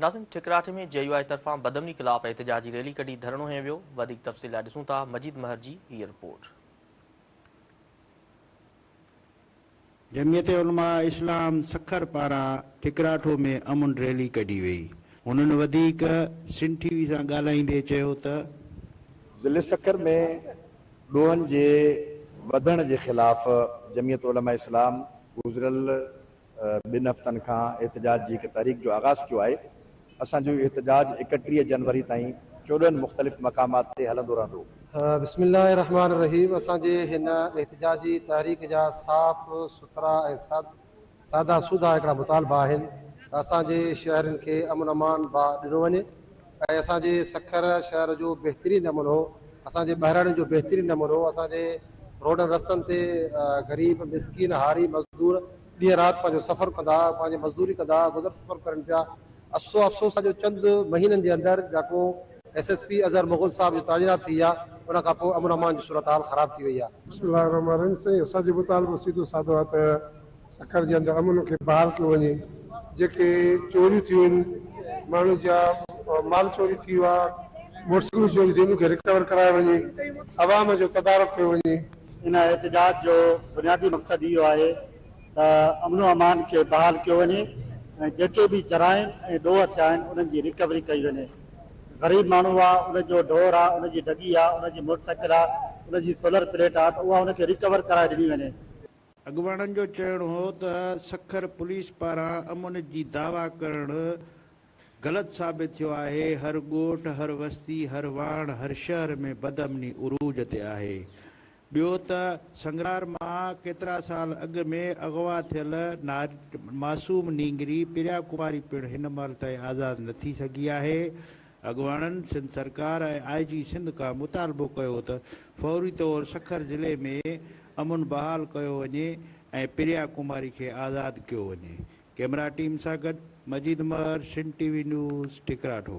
ناظرين ٺڪراٺ ۾ J U I طرفان بدامني خلاف احتجاجي ريلي ڪڍي ڌرڻو هنيو ويو وڌيڪ تفصيل لاء ڏسون ٿا مجيد مهر جي هيء رپورٽ. جمعيت علماء اسلام سکر پاران ٺڪراٺو ۾ امن ريلي ڪڍي وئي هنن وڌيڪ سنڌ ٽي وي سان ڳالهائيندي چيو ته. ضلعي سکر ۾ ڏوهن جي وڌڻ جي خلاف جمعيت علماء اسلام گذريل ٻن هفتن کان احتجاج جي هڪ تحريڪ جو آغاز ٿيو آهي، اسان جو اهو احتجاج اڪٽيهه جنوري تائين چوڏهن مختلف مقامات تي هلندو رهندو. بسم الله الرحمٰن الرحيم اسان جي هن احتجاجي تحريڪ جا صاف سٿرا ۽ سادا سوڌا هڪڙا مطالبا آهن ته اسان جي شهرين کي امن امان با ڏنو وڃي، ۽ اسان جي سکر شهر جو بهترين امن هو، اسان جي ٻهراڙين جو بهترين امن هو، اسان جي روڊن رستن تي غريب، مسڪين، هاري، مزدور ڏينهن رات پنهنجو سفر ڪندا، پنهنجي مزدوري ڪندا گذر سفر ڪرين پيا، افسو افسوس آ جو چند مهينن جي اندر جاکو S S P Azhar Mughal صاحب جو تعينات ٿي ويا ان کان پوء امن امان جي صورتحال خراب ٿي وئي آ. بسم الله الرحمن الرحيم سائين اسان جو مطالبو سيدو سادو آ ته سکر جي اندر امن کي بحال ڪيو وڃي جيڪي چوريون ٿيون آهن ماڻهن جا مال چوري ٿي ويو آهي موٽرسائيڪلون چوري ٿيون ان کي رڪور ڪرايو وڃي عوام جو تدارڪ ڪيو وڃي. ان احتجاج جو بنيادي مقصد اهو آهي ته امن و امان کي بحال ڪيو وڃي ۽ جيڪي به جرائم ۽ ڏوهه ٿيا آهن انهن جي رڪوري ڪئي وڃي غريب ماڻهو آهي ان جو ڍور آهي ان جي ڍڳي آهي ان جي موٽرسائيڪل آهي ان جي سولر پليٽ آهي ته اها ان کي رڪور ڪرائي ڏني وڃي. اڳواڻن جو چوڻ هو ته سکر پوليس پاران امن جي دعويٰ ڪرڻ غلط ثابت ٿيو آهي، هر ڳوٺ، هر وستي، هر واڻ، هر شهر ۾ بدامني عروج تي آهي. ٻيو ته سنگرار مان ڪيترا سال اڳ ۾ اغوا ٿيل معصوم نينگري پريا ڪماري پڻ هن مهل تائين آزاد نه ٿي سگهي آهي، اڳواڻن سنڌ سرڪار ۽ آء جي سنڌ کان مطالبو ڪيو ته فوري طور سکر ضلعي ۾ امن بحال ڪيو وڃي ۽ پريا ڪماري کي آزاد ڪيو وڃي. ڪيمرا ٽيم سان گڏ Majid Mehar Sindh T V news ٺڪراٺو.